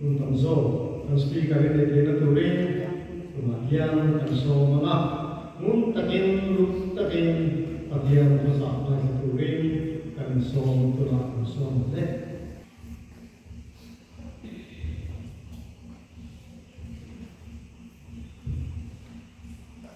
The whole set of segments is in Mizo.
Hun tam zawk kan speaker in entirna turin tunah hian kan sawi hmang a, ngun takin lut takin Pathian khaw zah hmaisa turin kan insawm tunah kan sawi hmang e.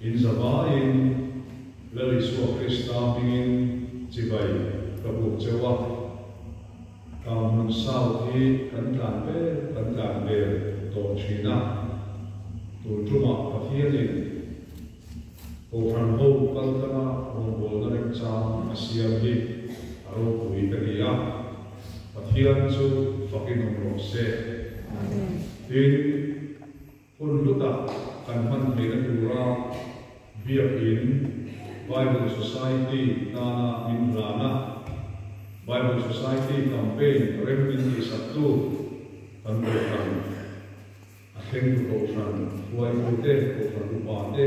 In zavaiin la ri suak Krista hmingin chibai ka buk che uah. Ka hmun sau hi kan tlan ber kan tlan ber tawh thin a. Tun ṭumah Pathianin Kohhranho kaltana rawngbawlna ringchang a siam hi a ropui ka ni a. Pathian chu fakin awm rawh seh. Amen. Tin. Hun luta kan hman theihna tura biakin Bible Society tana min ran a. Bible Society campaign rem min tihsaktu kan Kohhran, a thlengtu Kohhran, Huaihute, Kohhran upa te,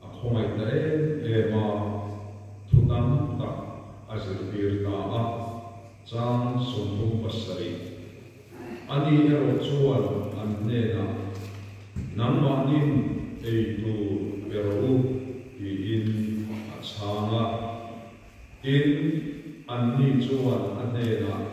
A khawngaih ta em em a, thutam tak a zirtir ta a, chang sawmpum pasarih a nih erawh chuan an hnenah nangmahnin eitur pe rawh u tiin a chhang a, tin anni chuan a hnenah.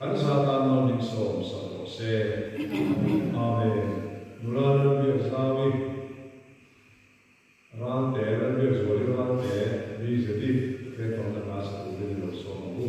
An zat a nawr dik sawm sawm rawh se. Amen Ave. Nula ral biak zau i ral te ral biak zual i ral te ri zet i fe ton na hna sa turin i lo sawm ang u.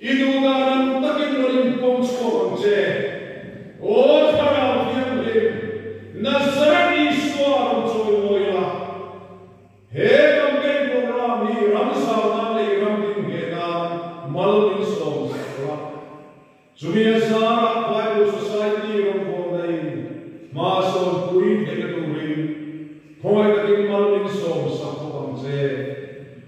I duhna ram takin rawn inpuang chhuak ang che. Aw Thlarau Thianghlim, Nazareth Isua a rawn chawimawi a. He campaign program hi ram zana lei ram ding hne nan mal min sawm sak la. Chumi a zar ah Bible Society ram vuan na in hma sawn pui theihna tur in khawngaih takin mal min sawm sak bawk ang che.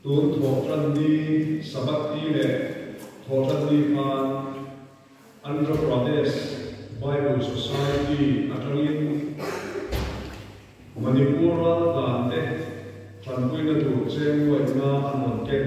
Tun thawhtanni Sabbath-i leh thawhtanni hman Andhra Pradesh Bible Society atangin Manipur ral tlante tanpuina tur chêngluaina an rawn ken.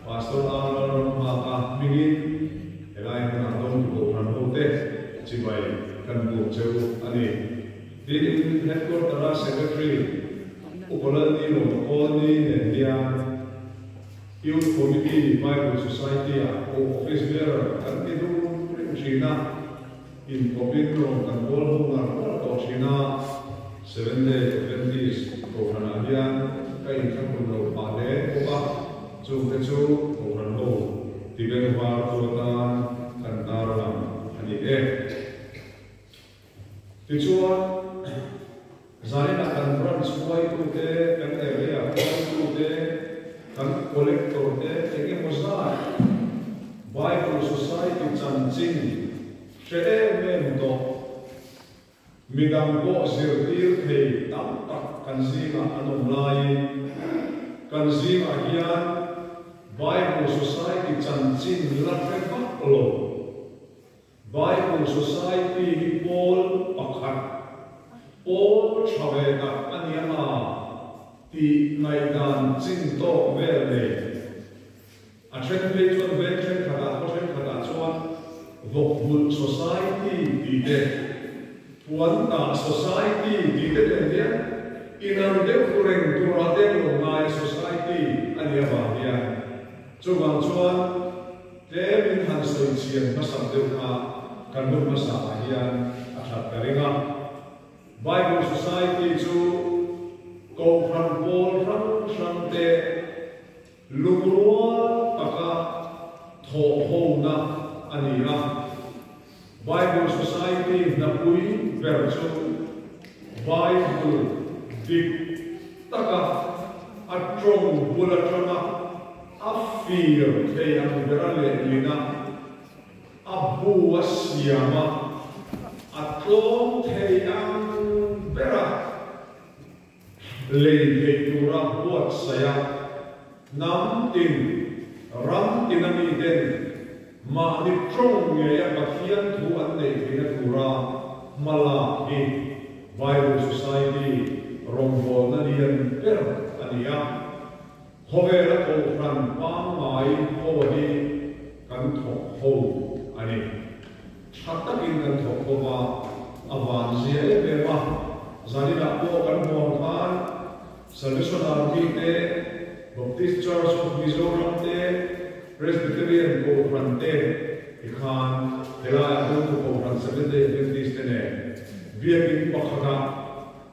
Pastor Ang lalram hmaah hmingin helai hmunah dawng tu bohran hote chibai kan bum cheu a ni. Tin, Headquarter-a Secretary U Kolalnilo Colney nen hian Youth Committee Bible Society-a U Office Bearer kan ti dun rim thin a, Inkawpin rawn kan kawl hung ngar ngar tawh thin a, Seventh Day Adventist Kohhranah hian ka inthlakun lo phah leng bawk a, chungte chu Kohhran ho Tibet var chu atan kan tarlang a ni e. Tichuan. Zaina kan branch hnuaitute, kan area hnuaitute, kan collector te eng emaw zat Bible Society chanchin hre em em tawh midang pawh zirtir thei tam tak kan zingah an awm laiin kan zingah hian Bible Society chanchin la hre vak lo. Bible Society hi Paul pakhat, Paul tha ve tak a ni a tih ngaihdan ching tawk vel nei. A then phei chuan veng thenkhatah khaw thenkhatah chuan Vawkbulh Society tih te, Puantah Society tih te nen hian inang deuh tu reng turah te lawmngaia society a ni avang hian chuvang chuan, Tlem in han sawi chhian hmasak deuh kha kan hmu hmasa ah hian a that ta reng a. Bible Society chu Kohhran pawl hrang hrang te lungrual taka thawh ho na a ni a. Bible Society hnapui ber chu Bible dik taka a tawng bul atang a, a fir thei ang ber a leh niin a, a bu a siam a, a tlawm thei ang ber a. Lei theih tura buatsaia hnam tin ram tina miten mahni tawng ngeia Pathian thu an neih theihna tura hma lak hi Bible Society rawngbawlna lian ber a ni a. Khawvela Kohhran pangngai khaw hi kan thawk kho a ni. Tha takin kan thawk kho va, a vanzia em em a, zaninah pawh kan hmuang khan Salvation Army te, Baptist Church of Mizoram te, Presbyterian Kohhran te hi khan helaiah Hlutu Kohhran Seventh-day Adventist te nen biakin pakhatah,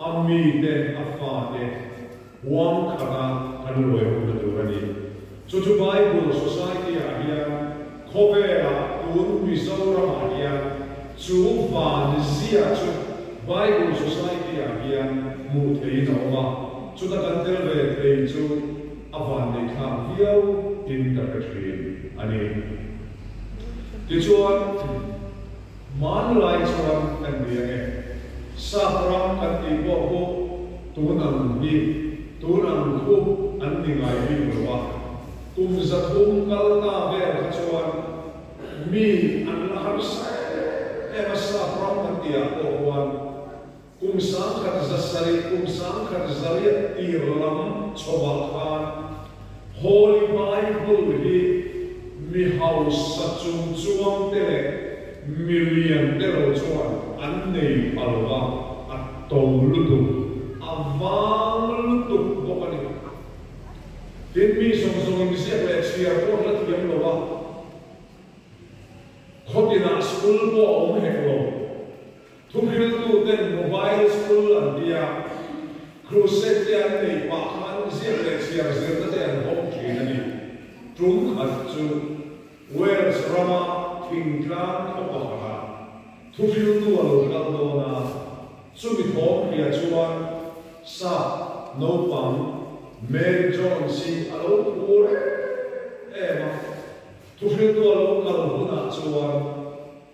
A mite, a fate, huam khata kan ruai rum ta tur a ni. Chu chu Bible Society ah hian khawvela tun Mizoram ah hian chu van zia chu Bible Society ah hian hmuh theihin a awm a, chuta kan tel ve thei chu a van nei thlak viau in ka hre thin a ni. Tichuan. Hmanlai chuan ka nui ang e. Sakram kan tih pawh hu tun ang hi tun ang thu an ni ngai bik lo a. Kum zathum kalna vel kha chuan mi an la harsa em em a sakram kan tih ah pawh huan. Kum sangkhat zasarih, kum sangkhat zariah tir lam chhawmah khan Holy Bible hi mi hausa chung chuang te leh mi lian te lo chuan an nei pha lo va, a to lutuk, a vang lutuk bawk a ni. Tin, mi zawng zawng in ziak leh chhiar pawh hla thiam lo va, khawtinah school pawh a awm hek lo, Thuhriltuten mobile school an ti a, crusade te an nei pah khan ziak leh chhiar zirna te an hawk thin a ni. Tum khat chu Wales rama thingtlang khaw pakhatah thuhriltu a lo kal dawn a, chumi thawm hria chuan sap naupang Mary Jones hi a lo phu reng em a, thuhriltu a lo kal hunah chuan,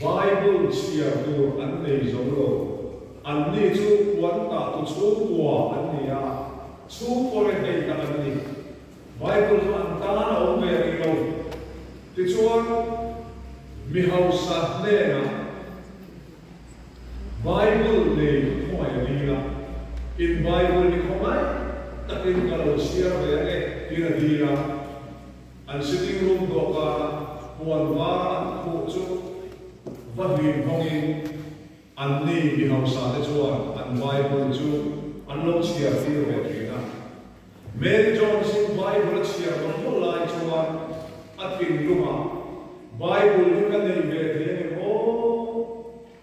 Bible chhiar tur an nei zo lo. Anni chu puantah tu chhung bua an ni a, chhung pawre hei tak an ni. Bible chu an tan a awm ve a nih lo. Tichuan, mi hausa hnenah Bible nei ka khawmai a dil a, in Bible hi khawngaih takin ka lo chhiar ve a ni, tir a dil a. An sitting room dawhkanah puan vara an khuh chu va hlim hawngin anni mi hausate chuan an Bible chu an lo chhiar tir ve thin a. Mary Jones-in Bible a chhiar dawn dawn lai chuan a thinlungah, Bible hi ka neih ve thei a ni maw?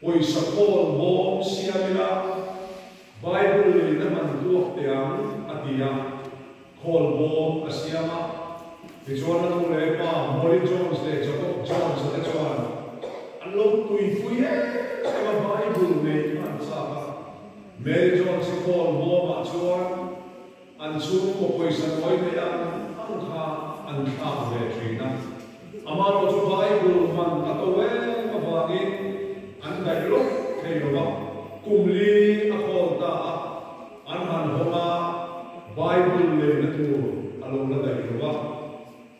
Pawisa pawl bawm siam ila Bible lei na man tuak teh ang a ti a, khawl bawm a siam a. Tichuan a nu leh pa Molly Jones leh Jacob Jones te chuan an lo tuipui em em a Bible nei hmanchak a. Mary Jones-i khawl bawmah chuan, An chhung paw pawisa nuai mai a, ang kha an thlak ve thin a. Amah erawh chu Bible hman a to em avangin an daih lawk thei lo va, kum li a khawl ta a, an han hawng a, Bible leina tur a lo la daih lo va.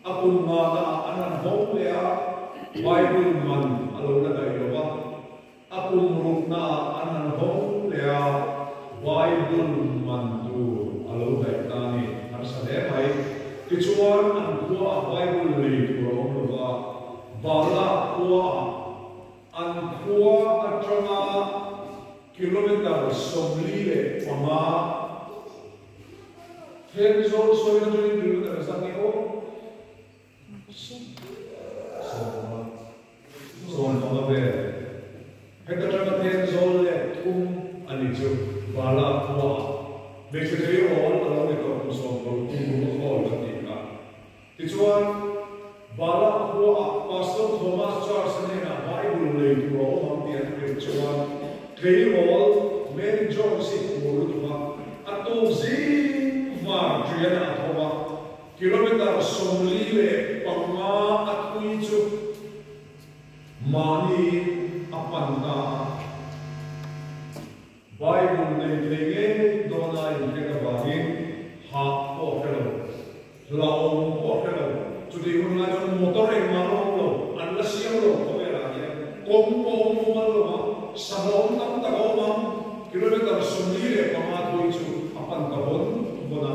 A kum ngah lah an han hawng leh a, Bible hman a lo la daih lo va. A kum ruknaah an han hawng fung leh a, Bible man tur a lo daih ta a ni. An hre hle mai. Tichuan, an khuaah Bible lei tur a awm lo va, Balak khuaah an khua atanga kilometre sawmli leh panga then zawn sawi na chu in kilometre zang i aw. Zawn hmanga vel heta tanga ten zawl leh thum a ni chu Vala khua ah hmeichhe chei rawn a lo ni tawh hmuhsawm lo tum rum a khawl kan tih kha. Tichuan, Vala khua ah Pastor Thomas Charles-a hnenah Bible lei tur a awm ang tih an hrilh chuan thei rawl Mary Jones-i phur lutuk a, a tuk zing var ṭial a a tho a. Kilometre sawmli leh panga a tui chu mahniin a pan ta a. Bible nei thei ngei dawna inhek avangin hah pawh a hre lo, hlauhawm pawh a hre lo. Chutih hun lai chuan motor engmah rawh a awm lo, an la siam lo khaw velah hian kawng pawh a awm fo mal lo a, sahlawm tam tak a awm ang. Kilometre sawmli leh panga a tui chu a pan ta vawn vawn a.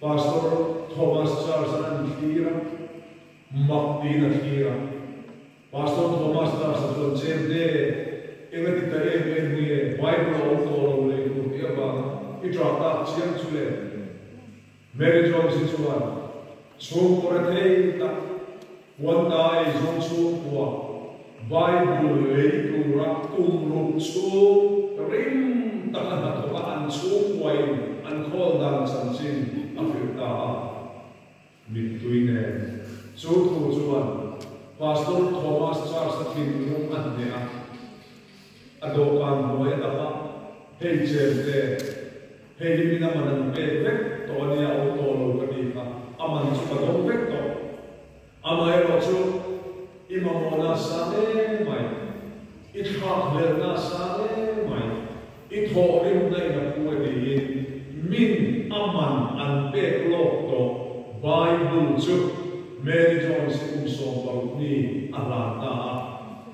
Pastor Thomas Charles a ra'n thlir a, mak tiin a thlir a. Pastor Thomas Charles-a chuan, Chem te, enga ti ta em em nge Bible a awm tawh lo lei tur te avanga i ṭah tak chiang chu le? Mary Jones-i chuan, Chhum awrh a thei tak. Huanta ei zawng chhung khua Bible lei tura kum ruk chhung rim taka hnathawka an chhungkuain an khawl dan chanchin a fir ta a. Mittui nen chu thu chuan Pastor Thomas Charles-a thinlung a hneh a. A dawhkan hnuai a tam a, hei chen te, hei hi min a man an pek vek tawh a nia awm tawh lo ka tih kha a man chu ka dawng vek tawh. Amaherawh chu i mamawh nasa hle mai, i thlak hler nasa hle mai, i thawh rim naina phu a tiin min a man an pek lawk tawh Bible chu Mary Jones i kum sawmpalh mi a hlan ta a.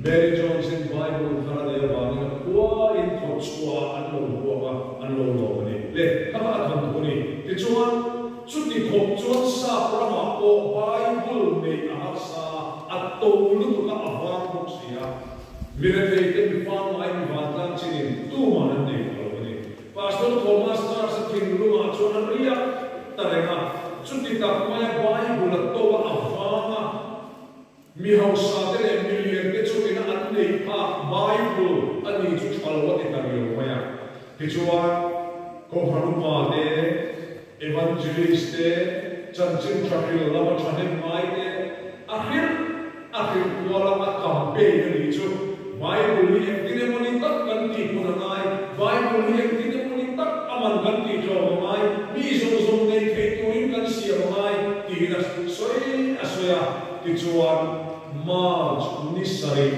Mary Jones-in Bible thar nei avangin a khuain kawt chhuaah an lo buang a, an lo lawm a nih le, ka va a damduk a ni. Tichuan, chuti khawp chuan sap ramah pawh Bible nei a harsa a, a to lutuka a vang bawk si a. Mirethei te mifa ngai mi vantlang chinin tuman an nei kha lo a ni. Pastor Thomas Church-a thingrungah chuan a riak ta reng a, chuti tak maia Bible a to a, a vang a. Mi hausate leh mi liante chu ina an nei phak Bible a nih chu tha lo a ti ta riau mai a. Tichuan, Kawnghranguma te, Evangelist te, chanchin tha hrilh lama tha hnem ngai te, a hrilh a hrilh kual a a kam pein a nih chu Bible hi engtin emawni tak kan tih hun a ngai, Bible hi engtin emawni tak a man kan tih tlawm a ngai, mi zawng zawng nei theih turin kan siam a ngai tiin a sawi a sawi a. Tichuan, March ni sarih,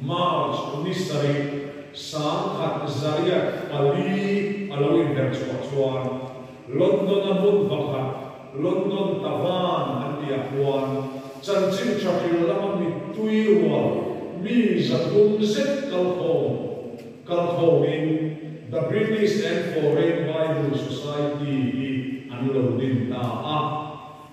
March ni sarih, sangkhat zariat pali a lo inher chhuah chuan London a hmun vakhat, London Tavan an tih ah khuan chanchin Churchill lama mittui rual mi zathum zet kalkhawm kalkhawm in The British and Foreign Bible Society hi an lo din ta a.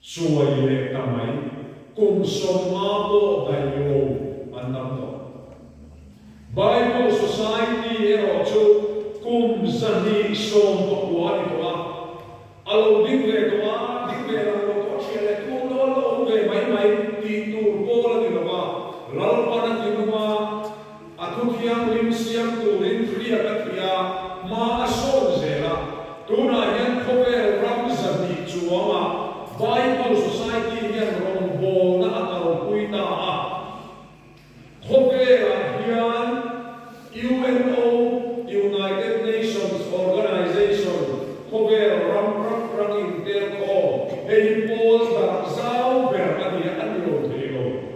Chuai leh ta mai, kum sawmnga pawh daihlo an tam tawh. Bible Society erawh chu kum zahnih sawm pakua a ni tawh a, a lo ding ve tawh a, ding ve lam lo tawh a ṭhiah leh tu nawl a awm ve mai mai tih tur pawl a ni lo a, Lalpana ti hnu a, A thu thianghlim siam turin thlia ka ti a, ma a sawm zel a. Tunah hian khawvel ram zahnih chuangah Bible Society hian rawngbawlna a kalpui ta a. Khawvelah hian UNO, United Nations Organization, khawvel ram rak rak intel khawm, hei hi pawl dar zau ber a nia, a ni lo thei lo.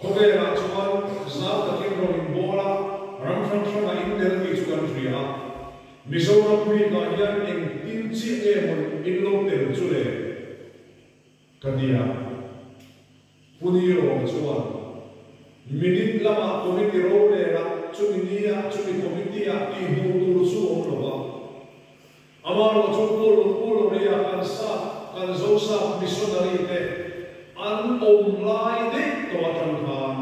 Khawvelah chuan zau takin rawn inbawl a, ram hrang hrangah in tel tih chu kan hria a. Mizoram bikah hian eng tin chiah nge hun in lo tel chu le? ka ti a. Puni rawng chuan, Minute lamah committee ro lela chumi nia chumi committee-a tih hmuh tur chu awm lo va, Amarawh chu Puluk Pulawria kan sâk, kan zosâk missionary te an awm lai daih tawh aṭang khan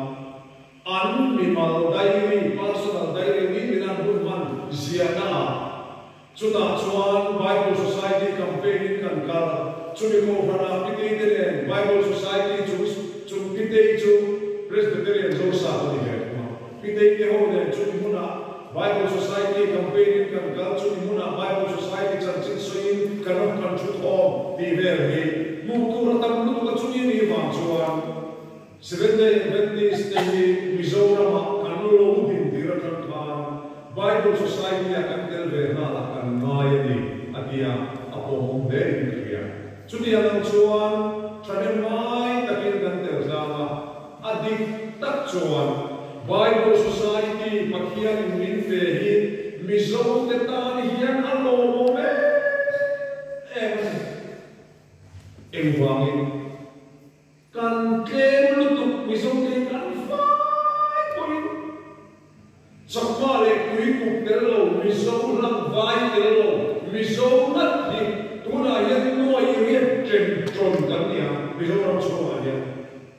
an mimal diary, personal diary, ni in an hun hman ziahna ah chutah chuan Bible Society campaign in kan kal. Chumi kohhranah Pitei te nen Bible Society chung chung Pitei chu Presbyterian zosâk a ni ve thung a. Piteih te ho nen chumi hmunah Bible Society campaign in kan kal, chumi hmunah Bible Society chanchin sawiin ka nawm kan thu thawm tih vel hi hmuh tur a tam lutuk a, chumi ni vang chuan Seventh Day Adventist te hi Mizoramah kan lo lo din tir atang khan Bible Society a kan tel ve hna lah kan ngai a ni a tia a pawmawm hle in ka hria. Chutiang ang chuan thahnem ngai takin kan tel tlang a, A dik tak chuan Bible Society Pathian in min fe hi Mizo te tan hian a lawmawm em em a ni. Engvangin kan tlem lutuk Mizo te hi kan fai pawhin chakma leh tuikuk tel lo Mizo hlangvai tel lo Mizo nghat hi tunah hian nuaih i riat tlem tawn kan nia Mizoram chhungah hian.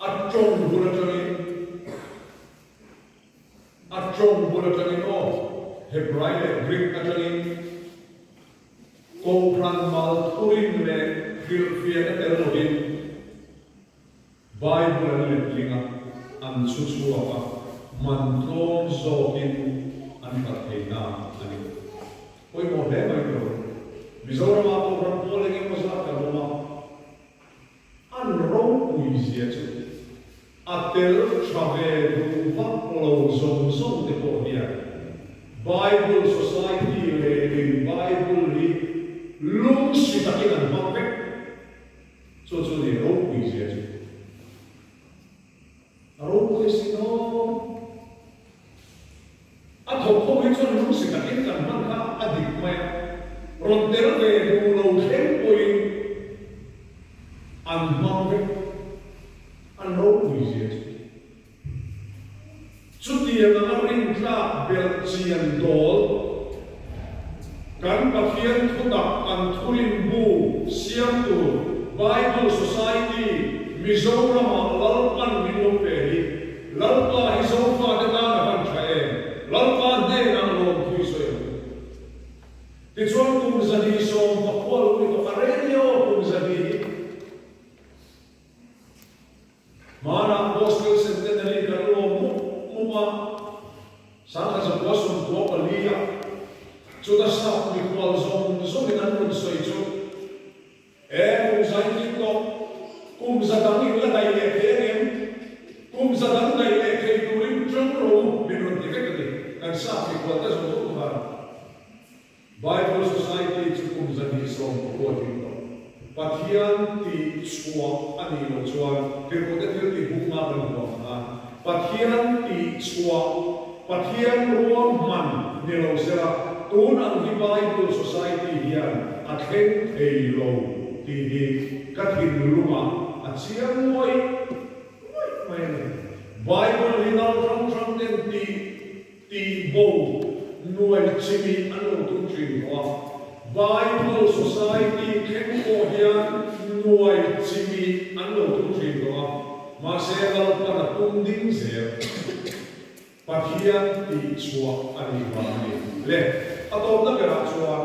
At tawng bul atangin, At tawng bul atangin aw, Hebrai leh Greek atangin Kohhran mal thurin leh hrilhfiah ate rawhin Bible an letling a, an chhuchhuak a, man tlawm zawkin an hlat theinak a ni. Pawimawh hle mai tur, Mizorama Kohhran Pawl engemaw zat kan awm a. An rawng puizia chu a tel tha ve duhvak lo zawng zawng te pawh hian Bible Society lêrin Bible hi lungsi takin an hmang vek. Chu chu nih rawng puizia chu. A ro pawh i si daw. A tho kho hi chuan lung si takin kan hman kha a dik mai a. Rawn tel ve duh lo thleng pawhin an hmang vek. An ro vui zia chu i. Chutianga a rin tlak belh chian dawl Kan Pathian thutak kan thurinbu siam tur Bible Society Mizoramah Lalpan min awm ve hi, Lalpa hi Zofate tan a han tha em? Lalpa hnenah lawmthui sawi a hmu. Tichuan kum zahni sawm pakua lung ni tawka radio kum zahni hi. Hmanah Gospel Centenary kan lawm mup mup a, Sangha Zakhua sawmtua paliah chuta sap mikual zawng zawng in an rawn sawi chu E kum zai khin tawh kum za dang in la daih leh thei angem? Kum za dang daih leh thei turin ṭawng rawh u min rawn ti vek a ni, kan sap mikual te zawng zawng khan. Bible Society chu kum zahnih sawm ka buat ding lo. Pathian tih chhuah a nih loh chuan Kekawrhte thiltih bukna kan hmu ang khan Pathian tih chhuah, Pathian ruang hman ni lo sela tun ang hi Bible Society hian a thleng thei lo tih hi ka thinlungah a chiang muai muai mai a ni. Bible hi no hrang hrangten tih Tih bo nuai chimi an lo tum tling lo a. Bible Society thleng pawh hian nuai chimi an lo tum tling lo a, mahse lalpan a tum ding zel. Pathian tihchhuah a ni vang a ni. Le, a tawpna berah chuan.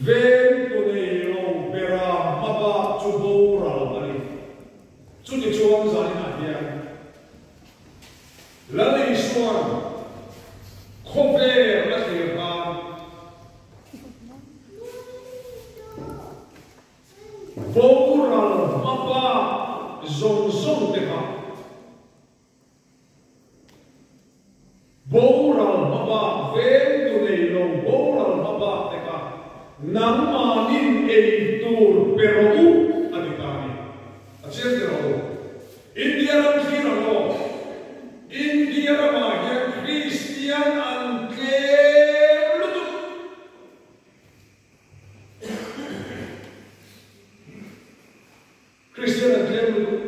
Veng tu nei lo bera hma bak chu boral a ni. Chuni chuan zainah hian Lalishuan khawvel a thlir han boral hma bak zawng zawng te kha. Boral hma bak vel tu nei lo boral hma bak te kha nangmah in ei tur pe rawh u a ti ta ni. A chiang ti rawh u. India ram khi ram aw. India ram ah hian Kristian an tlem lutuk. Kristian a tlem lutuk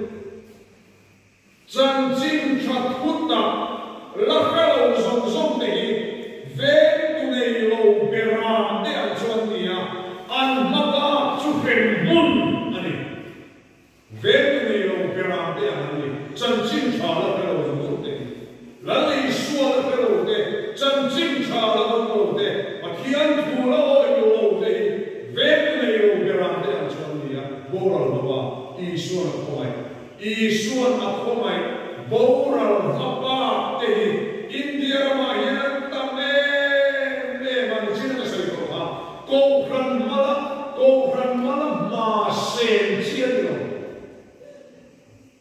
chanchin tha thutna la hre lo zawng zawng te hi veng tu nei lo bera te ah chuan ni a, an hma bak chu hrem hmun a ni. Veng tu nei lo bera te ah an ni, chanchin tha la hre lo zawng zawng te hi Ralei sual a pe lo te, chanchin tha a awm lo te, Pathian thu la awih loh lo te hi vek nei lo berah te an chhawn ni a, boral ho a, Isuan a khawngaih. Isuan a khawngaih boral hla bak te hi India ramah hian an tam em em a, ni chin a ka sawi tawh kha, Kohhran hmala, Kohhran hmala hma sen chian ni lo.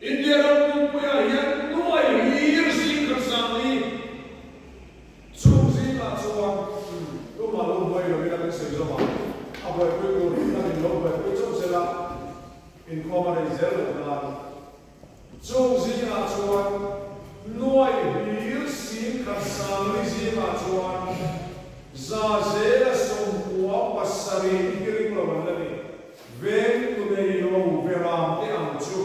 India ram pumpuiah hian nuai hlir zing kan sang ni. Chhung zingah chuan tumah lo buai lovin a kan sawi zawm a, a buaipui tur hi kan in lo buaipui chauh zel a, inkhawm a rei zel lo nan. Chhung zingah chuan nuai hlir zing kan sang ni zingah chuan za zela sawm hmuam pasarih hi ring lo an la ni. Veng tu nei lo Veram te ang chu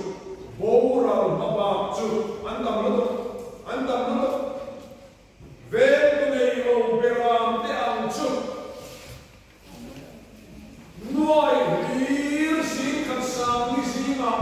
Boral hma bak chu an tam rawt a, an tam rawt a. Veng tu nei lo Beram te ang chu nuai hlir hlir khat sang hi zingah.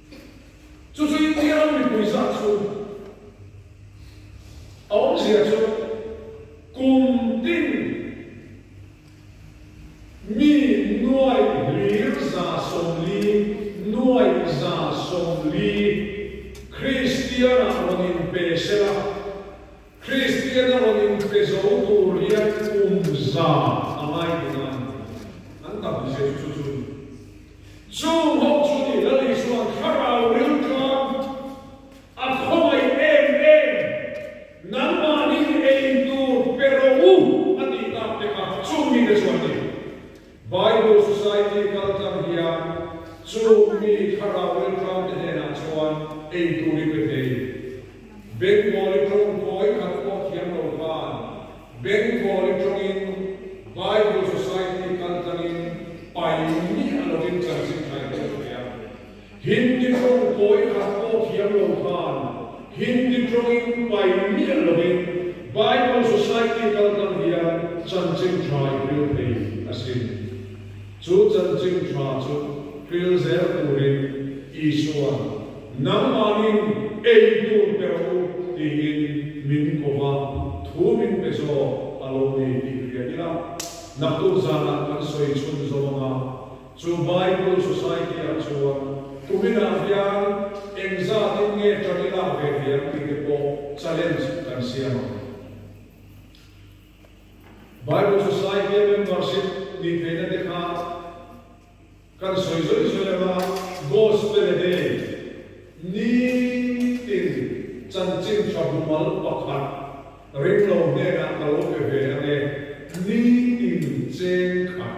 Chu chu India ram mipui zah chu a awmzia chu kum tin mi nuai lir za sawmli, nuai za sawmli, Kristian ah rawn in pe sela, Kristian a rawn in pe zo tur hian kum za a ngai dun a, an tam hmel chu chu chu. Chung ho chu ni lo ni chuan thlarau ril chuan a khawngaih em em. Nangmahnin ei tur pe ro u a tih tak mek a, chung mi te chuan ni. Bible Society kaltlang hian chung mi thlarau ril tlang te hnenah chuan ei tur i pe thei. Bengali ṭawngkawi khat pawh thiam lo khan. Beng pawl i tawngin Bible Society kal tlangin pai nih a lawngin chanchin thai tawh a nia. Hindi tawng upaw i khat pawh thiam lo khan Hindi tawngin pai nih a lawngin Bible Society kal tlang hian chanchin thai hmel phei a si. Chu chanchin tha chu thil zel turin Isua nangmangin ei tur pe ro u tiin min ko va, thu min pe zawk a lo nei tih hria ila. Naktuk zanah kan sawi chhun zo anga chu Bible Society-ah chuan tuminah hian engzatin nge ṭang i lak ve thei ang tih te pawh challenge kan siam ang. Bible Society membership tih theihna te kha kan sawi zawih zawih anga God's Pele Day ni tin chanchin ṭhabumal pakhat ringlo hnenah ka lo pe ve ang e ni tin cheng khat.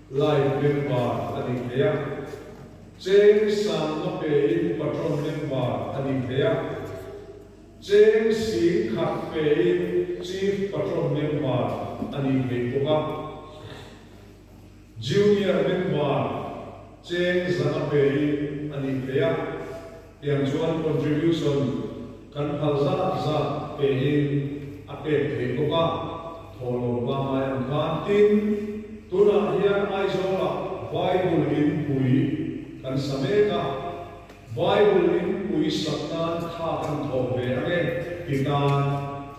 Live member a ni hle a. Cheng sang a pe in patron member a ni hle a. Cheng sing khat pe in chief patron member a ni thei bawk a. Junior member cheng zang a pe in a ni hle a. Tiang chuan contribution kan hal zat zat pehin a pek thei bawk a, thaw lo pangngai ang khan. Tin, tunah hian Aizawla Bible in pui kan sa mek a, Bible in pui sak nan tha kan thawh ve ange ti tan.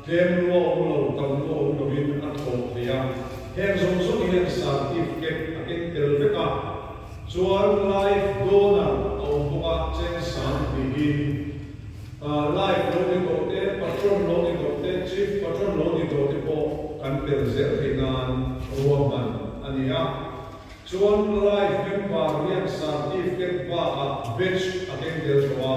Tlem luah u lo, tam luah u lovin a tlawh thei a, heng zawng zawng hian certifket a keng tel vek a, chuan live donor a awm bawk a, chen sang hnihin ah live lo ni doh te, patron lo ni doh te, chief patron lo ni doh te pawh kan tel zel thei nan ruahman a ni a, chuan live member hian certifket bakah badge a keng tel tawh a.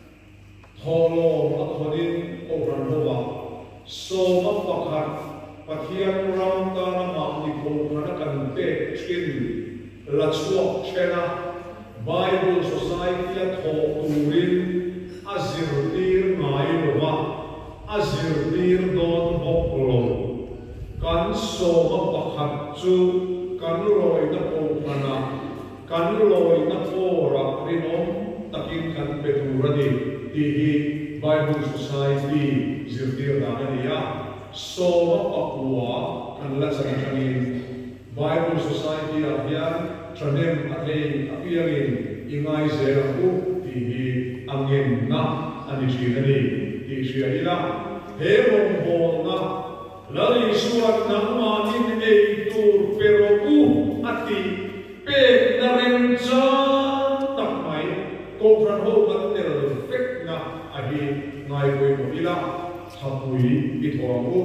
Thawhlawm a khawnin Opran hovah sawma pakhat Pathian ram tana mahni kawngkhana kan pek thin la chhuak then a, Bible Society-a thawh turin a zirtir ngai lova, a zirtir dawn bawk lo. Kan sawma pakhat chu kan rawihna kawngkhana, Kan lawina kawrah rinawm takin kan pe tur a ni tih hi Bible Society zirtir dan a ni a. Sawma pakua kan la chan atangin Bible Society ah hian thahnem a thei apiangin i ngaizel ang u tih hi a ngenna a ni thin a ni tih hria ila he rawnghawlna Lal Isua nangmah in ei tur pe rawh u a ti. Pekna rem chang tak mai kawngkhar ho kan tel fekna a hi ngai pawimawh ila, thapui i thaw ang u.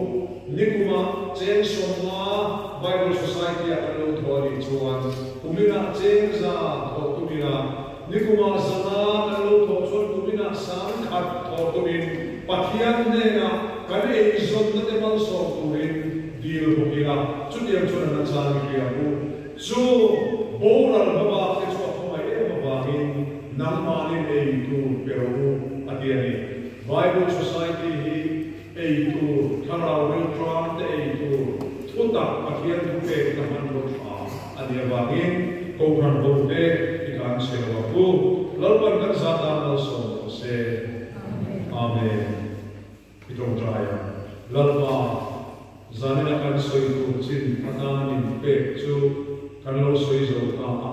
Nikuma cheng sawmnga Bible Society-a kan lo thaw a nih chuan, kuminah chengza thaw tumin a, Nikuma zanga kan lo thawh chuan tumina sang khat thawh turin Pathian hnenah kan eizawngnate malsawm turin dil bawk ila, chutiang chuan an achang i hria mu. Chu boral hma bakte chu a khawmai em avangin nangmahnin ei tur pe rawh u, a ti a ni. Bible Society hi. ei tur, thlarau veltlang te ei tur, thutak Pathian thupek ta hman rawt tha a nih avangin Kohhran ho te i kan chhe ruak u. Lalpan kan zah dan malsawm maw se. Amen. I tawngtai ang, Lalpa, zanin a kan sawi tur chin a tanin pek chu kan lo sawi zo ta a.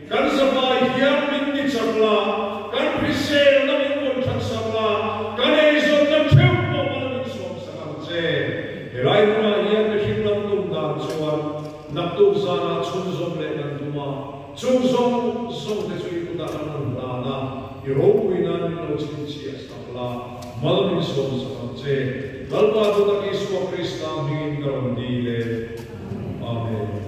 Kan zavai hiam min ti chak la, kan hrisel na min rawn that sak la, kan ei zawt na theuh pawh bal min sawm sak ang che. Helai hunah hian mi hring lam tum dan chuan naktuk zanah chhun zawng leh kan tum a, chung zawng zawng te chu i kut ah kan rawn hlan a, i ropui nan min lo chhin chhiah sak la, mal min sawm sak ang che. Lalpa Duhnak Isua Krista hmingin ka rawn dil e. Amen.